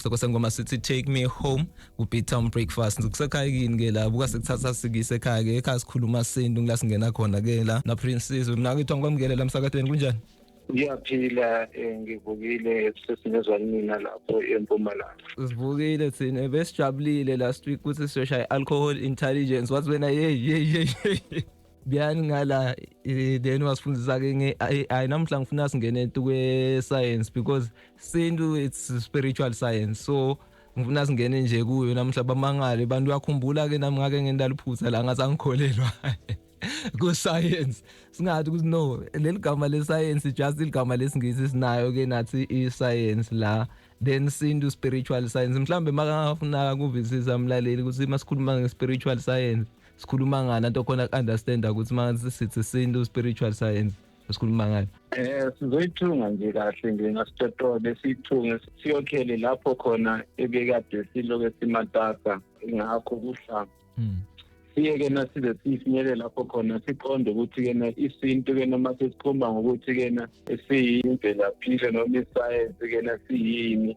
Soko sengoma sithi take me home ubeat town breakfast ngikusekhaya kini ke la buka sekuthatha sikise ekhaya ke ekhaya sikhuluma sintu ngila singena khona ke la na princess mina ngithi ngikwamukele la msakatweni kunjani ngiyaphila eh, ngivukile sesinezwa mina lapho empumalanga sivukile thina besijabulile last week ukuthi siyoshaya i-alcohol intelligence wathi wena yeyi yeyi yeyi kuyani ngala then wasifundisa-ke nge-ai namuhla ngifuna singene tu kwe-science because sintu it's spiritual science so ngifuna singene nje kuyo namuhla bamangale abantu uyakhumbula-ke nami ngake ngendaliphutha la ngathi angikholelwa ku-science singathi ukuthi no leli gama le-science just iligama lesingisi sinayo-ke nathi i-science la then sintu spiritual science mhlawumbe makangafuna kuvisisa mlaleli ukuthi masikhuluma nge-spiritual science sikhuluma ngani anto khona ku-understanda ukuthi uma sithi sintu spiritual science esikhuluma ngayo eh sizoyithunga nje kahle nje ngasitotole siyithunge siyokhele lapho khona ebekade siloke simatasa ngakho kuhlanga hmm. siye-ke na size sifinyele lapho khona siqonde ukuthi-ke na isintu-ke noma sesikhomba ngokuthi-ke na siyimvelaphi-ke noma isayensi-ke na siyini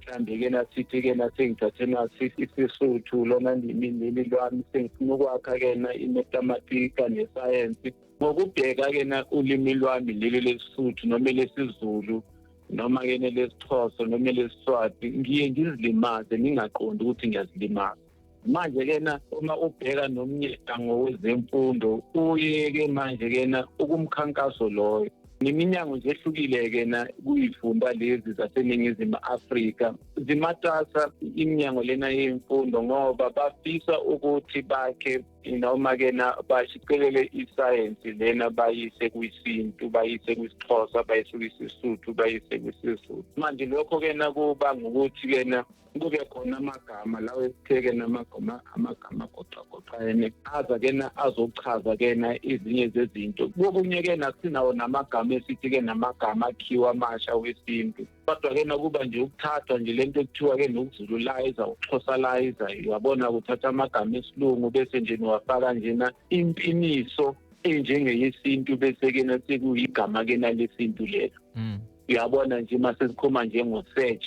mhlawumbe ke nasithi ke nasengithathe nasithi isisuthu lona ndimindini lwami sengifuna ukwakha ke na imetamatika nesayensi ngokubheka ke na ulimi lwami leli lesisuthu noma lesizulu noma ke nelesixhosa noma lesiswati ngiye ngizilimaze ngingaqondi ukuthi ngiyazilimaza manje kena uma ubheka nomnyango wezemfundo uyeke manje kena ukumkhankaso loyo neminyango nje ehlukile-ke na kuyifunda lezi zaseningizimu afrika zimatasa iminyango lena yemfundo ngoba bafisa ukuthi bakhe noma-ke na bashicelele isayensi lena bayise kwisintu bayise kwisixhosa bayise kwisisuthu bayise kwisizulu manje lokho-ke na kuba ngukuthi-ke na kube khona amagama lawo esitheke namagama amagama agoqagoqene aza kena azochaza kena izinye zezinto kokunye ke nasinawo namagama esithi ke namagama akhiwa amasha wesintu kodwa ke nakuba nje ukuthathwa nje lento ekuthiwa ke nokuzululayiza ukuxhosalayiza uyabona kuthatha amagama esilungu bese nje niwafaka njena impiniso enjengeyesintu bese kena sekuyigama kena lesintu lelo mm. uyabona nje uma sesikhoma njengosearch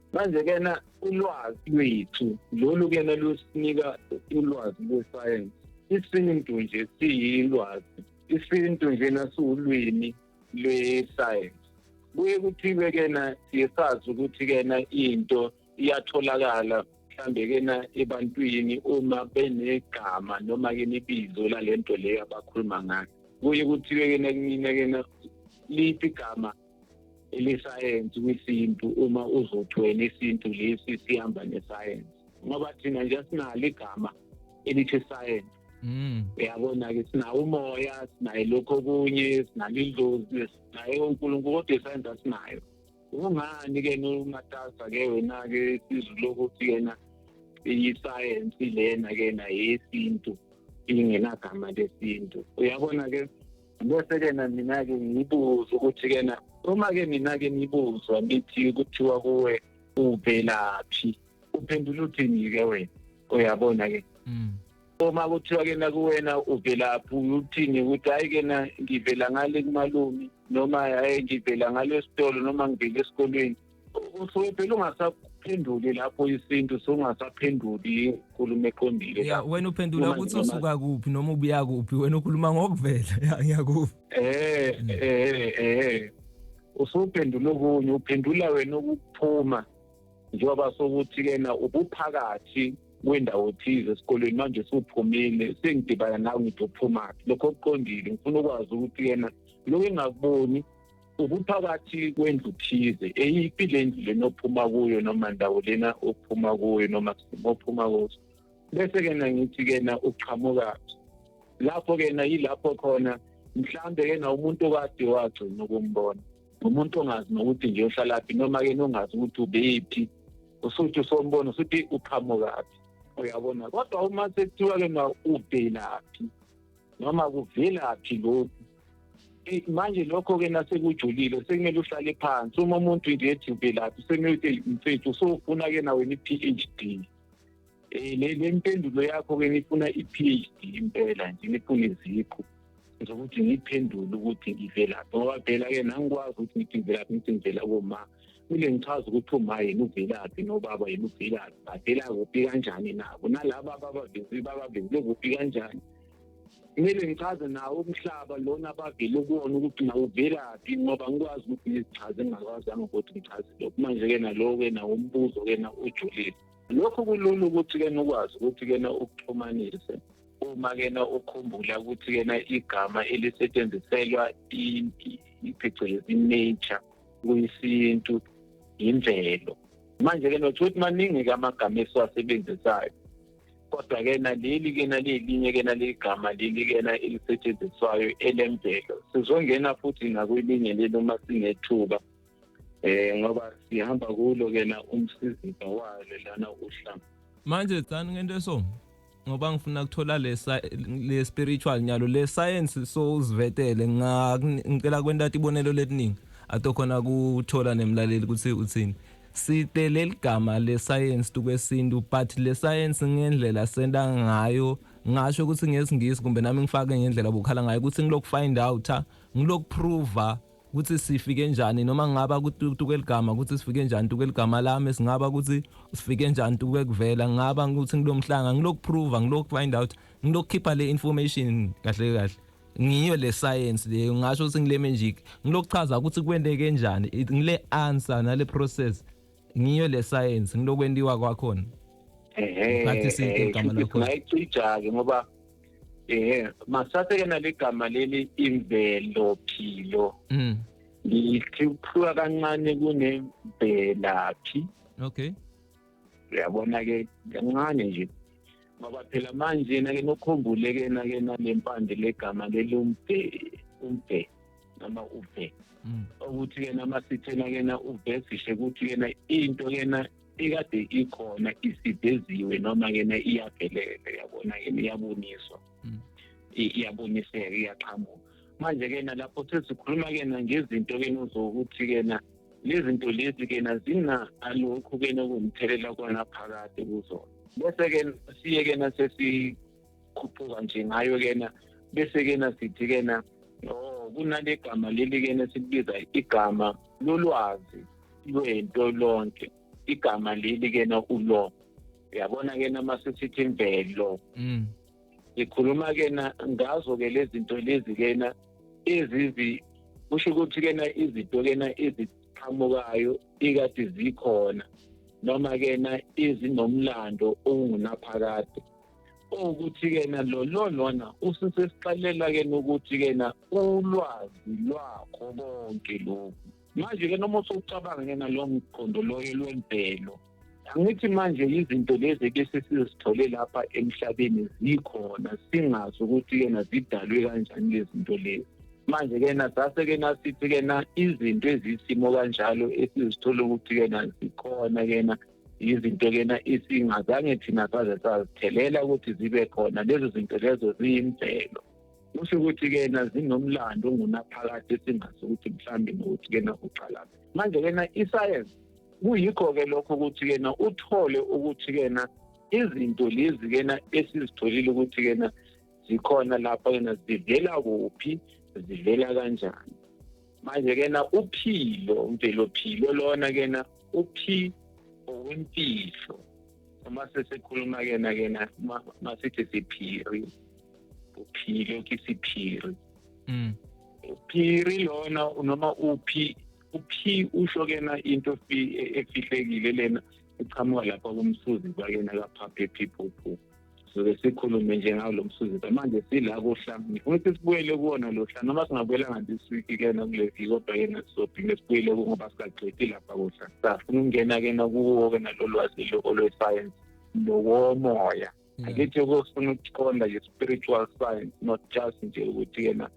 manje kena ulwazi lwethu lolu kena lusinika ulwazi lwesayensi isintu nje siyilwazi isintu nje nasiwulwimi lwesayensi kuye kuthiwe kena siye sazi ukuthi kena into iyatholakala mhlambe kena ebantwini uma benegama noma ke nibizo lalento leyo abakhuluma ngayo kuye kuthiwe kena kumina kena liphi igama elisayensi kwisintu uma uzothweni isintu lesi sihamba nesayensi ngoba thina nje sinalo igama elithi sayensi mm. uyabona-ke sinawo umoya sinaye lokho okunye sinalo idlozi sinaye unkulunkulu kodwa isayensi asinayo kungani-ke nomatasa ke wena-ke isizulu ukuthi yena isayensi lena-ke na yesintu ingenagama lesintu uyabona-ke bese kena mina ke ngibuza ukuthi kena uma ke mina ke nibuzwa nithi kuthiwa kuwe uvelaphi uphendula uthini ke wena uyabona ke mm. uma kuthiwa ke nakuwena uvelaphi uthini ukuthi hayi ke na ngivela ngale kumalume noma hayi ngivela ngale esitolo noma ngivela esikolweni usuke phela ungasaphenduli lapho isintu sungasaphenduli inkulumo eqondile ya wena uphendula ukuthi usuka kuphi noma ubuya kuphi wena ukhuluma ngokuvela ya ngiyakuphi eh eh eh usuphendula okunye uphendula wena ukuphuma njengoba sokuthi kena ubuphakathi kwendawo thize esikolweni manje suphumile sengidibana nawe ngithi uphumaphi lokho kuqondile ngifuna ukwazi ukuthi yena lokho engakuboni ubuphakathi kwendlu thize eyiphi le ndlu lena ophuma kuyo noma ndawo lena ophuma kuyo noma simo ophuma kuso bese-ke na ngithi-ke na uqhamukaphi lapho-ke na yilapho khona mhlawumbe-ke na umuntu okade wagcina ukumbona umuntu ongazi nokuthi nje uhlalaphi noma-ke nongazi ukuthi ubephi usuthi usombona usuthi uqhamukaphi uyabona kodwa uma sekuthiwa-ke na uvelaphi noma kuvelaphi lokhu manje lokho-ke nasekujulile sekumele uhlale phansi uma umuntu nje ethi uvelaphi sekumele ukuthi mfethu usofuna-ke nawe ni-phd um eh, le mpendulo yakho-ke nifuna i-phd impela nje nifuna izikho zokuthi ngiyiphendule ukuthi ngivelaphi ngoba phela-ke nangikwazi ukuthi ngithi ngivelaphi ngithi ngivela koma Kumele ngichaze ukuthi uma yini uvilaphi nobaba yini uvilaphi badela kuphi kanjani nabo nalaba ababavizi babavizile kuphi kanjani kumele ngichaze nawo umhlaba lona abavile kuwona ukuthi nawuvelaphi ngoba ngikwazi ukuthi ngizichaze ngingakwazanga ukuthi ngichaze lokhu manje-ke nalowo-ke nawo umbuzo-ke na ujulile lokho kulula ukuthi-ke nokwazi ukuthi-ke na ukuxhumanise uma-ke na ukhumbula ukuthi-ke na igama elisetshenziselwa phecelezi nature kuyisintu yimvelo manje-ke nothi ukuthi maningi-ke amagama esiwasebenzisayo kodwa-ke naleli ke nalelinye ke naleli gama leli kena elisetshenziswayo elemvelo sizongena futhi nakwelinye leli uma sinethuba eh ngoba sihamba kulo kena umsiziba walo lana uhlanga manje tsani ngento eso ngoba ngifuna ukuthola lesa le spiritual nyalo le science so uzivetele ngicela kwenta tibonelo letiningi atokhona kuthola nemlaleli ukuthi uthini site leligama le science tukwesintu but le science ngendlela senta ngayo ngasho ukuthi ngesingisi kumbe nami ngifake ngendlela bokhala ngayo ukuthi ngilokufind out ngilokuprova ukuthi sifike njani noma ngaba kutukeligama ukuthi sifike njani tukeligama lami singaba ukuthi sifike njani tuke kuvela ngaba ukuthi ngilomhlanga ngilokuprova ngilokufind out ngilokukhipha le information kahle kahle ngiyo le science leyo ngasho ukuthi ngile magic ngilokuchaza ukuthi kwenteke njani ngile answer nale process ngiyo le science ngilokwentiwa kwakhona ngathi sike igama lakho ngayicija-ke ngoba eh masaseke nalegama leli imvelo philo mm ngithi ukuhluka kancane kunemvelaphi okay uyabona ke kancane nje ngoba phela manje yena ke nokhumbule ke na ke nalempande legama lelumbe umbe noma ube mm. ukuthi yena masithena yena uvesishe ukuthi yena into yena ikade ikhona isideziwe noma yena iyaphelele yabona yena iyaboniswa mm. iyaboniseka iyaqhamuka manje ke nalapho sesikhuluma ke ngezinto ke nozokuthi ke na lezinto lezi ke na zina alokhu ke nokumthelela kona phakade kuzona bese ke siye ke na sesikhuphuka nje ngayo ke na bese ke na sithi ke na oh kunale gama leli ke na sibiza igama lolwazi lwento lonke igama leli ke na ulo uyabona ke na masisithi imvelo mm sikhuluma ke na ngazo ke lezi zinto lezi ke na ezizi kusho ukuthi ke na izinto ke na eziqhamukayo ikade zikhona noma ke na izinomlando ongunaphakade ukuthi ke na lo lona usisesixelela ke ukuthi ke na ulwazi lwakho konke lokhu manje ke noma usucabanga ke nalo mqondo loyo lwempelo angithi manje izinto lezi ebese sizithole lapha emhlabeni zikhona singazi ukuthi kena zidalwe kanjani lezi zinto lezi manje kena sase kena sithi kena izinto ezisimo kanjalo esizithola ukuthi kena zikhona kena izinto kena isingazange thina saze sazithelela ukuthi zibe khona lezo zinto lezo ziyimvelo kusho ukuthi kena zinomlando ongunaphakade singazi ukuthi mhlawumbe nokuthi kena uqalaphi manje kena isayensi kuyikho-ke lokho ukuthi kena uthole ukuthi kena izinto lezi kena esizitholile ukuthi kena zikhona lapha kena zivela kuphi zivela kanjani manje kena uphilo mvelo philo lona kena uphi owempilo uma sesikhuluma kena kena masithi siphiri uphilo kisiphiri mm. uphiri lona noma uphi uphi usho kena into efihlekile lena iqhamuka lapha kumsuzi kwakena kaphaphe people poo soke sikhulume nje ngawo lo msuzi manje sila kuhla ngifuna ukuthi sibuyele kuwona lo hla noma singabuyelanga this week kena kule viki kodwa kena sizophinde sibuyele kungoba sikaqedi lapha kuhla safuna ukungena kena kuwo kena lo lwazi lo olwesayensi nowomoya mm. angithi ukufuna ukuqonda i-spiritual science not just nje ukuthi yena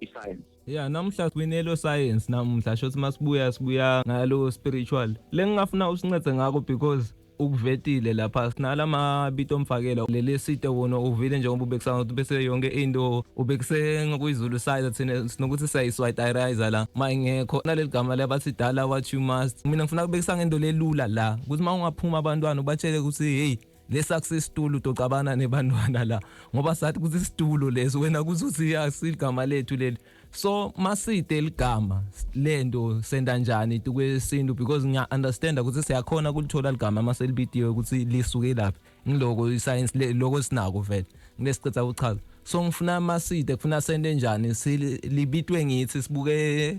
i-science ya namuhla kwinelo science namuhla shothi masibuya sibuya ngalo spiritual lengingafuna usincede ngakho because ukuvetile lapha sinala mabito omfakela leli site wona uvile njengoba ubekisanga ukuthi bese yonke into ubekise ngokuyizulu side thina sinokuthi siyayiswayitayiriza la ma ingekho naleli gama labathi dala what you must mina ngifuna kubekisa ngento lelula la ukuthi ma ungaphuma abantwana ubatshele ukuthi hey lesakusesitulo utoxabana nebantwana la ngoba sathi kuthi isitulo leso wena kuzothi yasigama lethu leli so maside ligama lento senda njani tukwesintu because ngiya understand ukuthi siyakhona kulithola ligama maselibidiwe ukuthi lisuke laphi ngiloko iscience lokho sinako vele ngilesiqetha ukuchaza so ngifuna maside kufuna sende njani silibitwe ngithi sibuke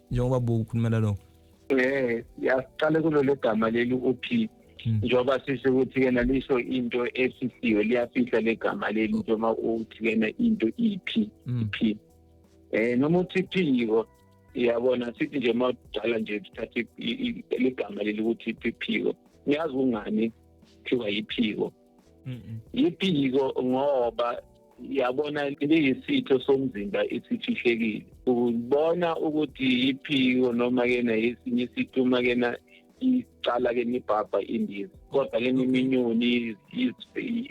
njengoba buku ukhulumela lokho eh yaqale kulolu gama leli uphi hmm. njengoba sisho ukuthi kena lisho into esisiwe liyafihla legama leli njengoba uthi kena into iphi hmm. iphi eh noma uthi phiko iyabona sithi nje uma udala nje sithathe ligama leli ukuthi iphiko ngiyazi kungani kuthiwa yiphiko yiphiko ngoba yabona liyisitho somzimba esifihlekile ubona ukuthi yiphiko noma kena yesinye isitho uma kena icala ke nibhabha indiza kodwa ke niminyoni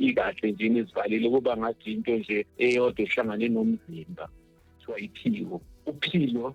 ikahle nje nizivalile kuba ngathi into nje eyodwa ehlangane nomzimba kuthiwa iphiko uphilo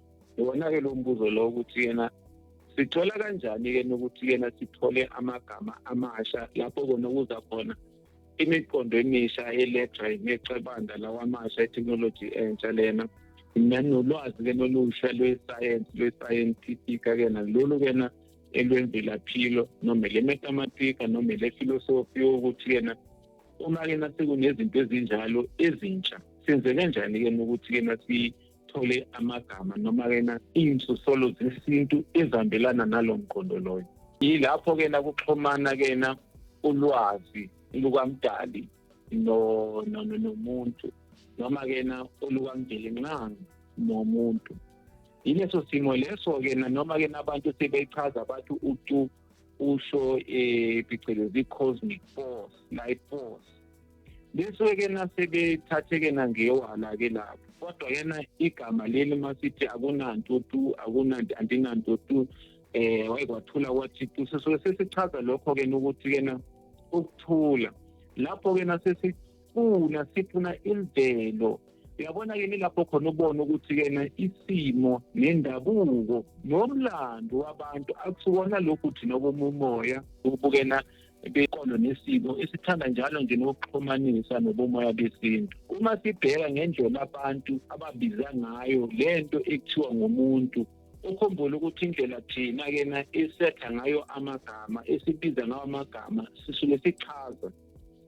iwona-ke lo mbuzo lo ukuthi yena sithola kanjani-ke nokuthi yena sithole amagama amasha lapho kona kuza khona imiqondo emisha elethwa yimecebanda lawamasha etheknoloji entsha lena nanolwazi-ke nolusha lwesayensi lwesayentifika-ke nalolu-ke na elwemvelaphilo noma elemetamatika noma elefilosofi yokuthi yena uma-ke nasekunezinto ezinjalo ezintsha senze kanjani-ke nokuthi-ke nasi sithole amagama noma-ke na iy'nsosolo zesintu ezihambelana nalo mqondo loyo yilapho-ke na kuxhumana-ke na ulwazi lukamdali nomuntu noma-ke na olukamdeli nxa nomuntu yileso simo leso-ke na noma-ke nabantu sebechaza bathi utu usho um phecelezi i-cosmic force life force besuke ke nasebethathe ke nangewala ke lapho kodwa yena igama leli masithi akunanto tu akunanto andinanto tu eh wayekwathula kwathi tu sesuke sesichaza lokho ke ukuthi ke na ukuthula lapho ke nasesifuna sifuna imvelo uyabona ke nilapho khona ubona ukuthi ke na isimo nendabuko nomlando wabantu akusikona lokhu thina komumoya ukubukena beqondo nesiko esithanda njalo nje nokuxhumanisa nobomoya besintu uma sibheka ngendlela abantu ababiza ngayo le nto ekuthiwa ngumuntu ukhumbule ukuthi indlela thina kena esetha ngayo amagama esibiza ngawo amagama sisuke sichaza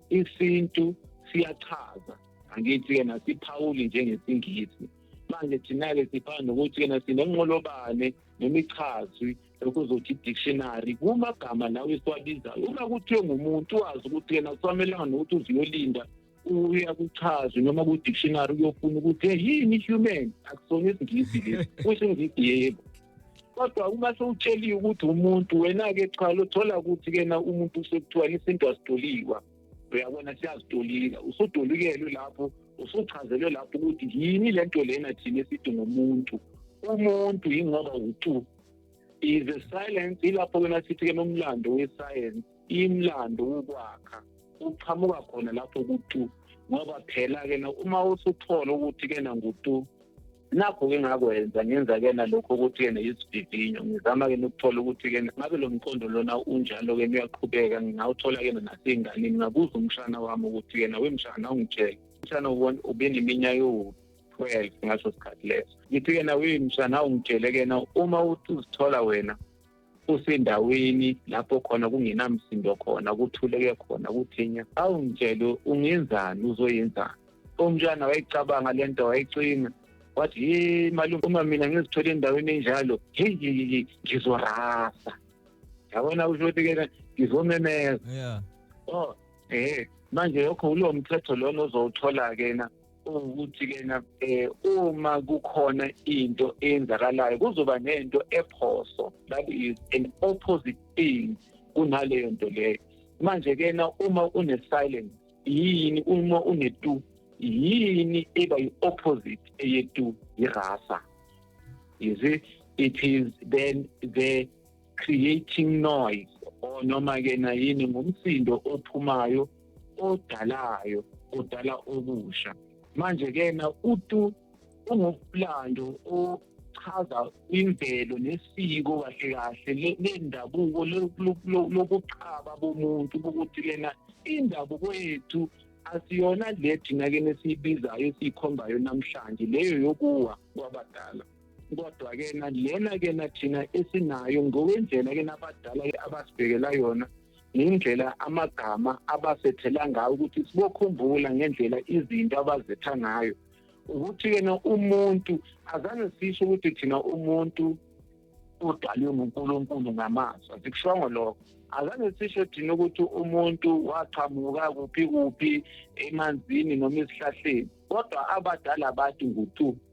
isintu siyachaza angithi-ke nasiphawuli njengesingisi manje thina-ke sifana nokuthi-ke nasinenqolobane nemichazwi ukuzothi dictionary kumagama lawo esiwabizayo uma kuthiwe ngumuntu wazi ukuthi yena kusamelanga nokuthi uziyolinda uya kuchazwe noma ku-dictionary uyofuna ukuthi hey yini human akusona isingisi lesi kusho ingisi yebo kodwa uma sewutsheliwe ukuthi umuntu wena-ke cha lothola ukuthi kena umuntu usekuthiwa isintu asitoliwa uyabona siyazitolika usudolikele lapho usuchazelwe lapho ukuthi yini le nto lena thina esithi ngomuntu umuntu yingoba utu is the silence ilapho kena sithi ke nomlando wesayensi imlando wokwakha uqhamuka khona lapho kutu ngoba phela ke na uma usuthola ukuthi ke na ngutu nakho ke ngakwenza ngenza ke na lokho ukuthi ke na isivivinyo ngizama ke nokuthola ukuthi ke ngabe lo mqondo lona unjalo ke uyaqhubeka ngingawuthola ke na nasenganini ngabuza umshana wami ukuthi ke na wemshana ungitshela umshana ubona ubeneminyaka ewukuthi 12 ngaso sikhathi leso ngifike na wini mshana ungitshele kena uma uthi uzithola wena usendaweni lapho khona kungenamsindo khona kuthuleke khona kuthinya awungitshele ungenzani uzoyenzani umntwana wayicabanga le nto wayicinga wathi ye malume uma mina ngizithole endaweni enjalo heyi ngizorasa yabona usho ukuthi kena ngizomemeza yeah. oh eh manje yokho ulo mthetho lona ozowuthola-ke na ukuthi kena eh, uma kukhona into eyenzakalayo kuzoba nento ephoso that is an opposite thing kunaleyo nto leyo manje kena uma une silence yini uma une two yini eba yi opposite eye two irasa is it it is then the creating noise or noma ke na yini ngumsindo ophumayo odalayo odala okusha manje ke na utu ungumlando ochaza imvelo nesiko kahle kahle lendabuko lokuqhaba bomuntu ukuthi lena indabuko yethu asiyona le thina ke nesiyibizayo esiyikhombayo namhlanje leyo yokuwa kwabadala kodwa ke na lena ke na thina esinayo ngokwendlela ke nabadala ke abasibhekela yona ngendlela amagama abasethela ngayo ukuthi sibokhumbula ngendlela izinto abazetha ngayo ukuthi yena umuntu azange sisho ukuthi thina umuntu udalwe nguNkulunkulu ngamazwi asikushongo lokho azange sisho thina ukuthi umuntu waqhamuka kuphi kuphi emanzini noma esihlahleni kodwa abadala bathi ngutu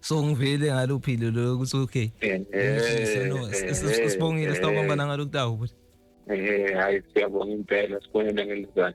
so ngivele ngalophile lo ukuthi okay eh, eh, no eh, sibongile sitawubamba nangalo kutawu but eh hayi siyabonga impela sibonene ngelizana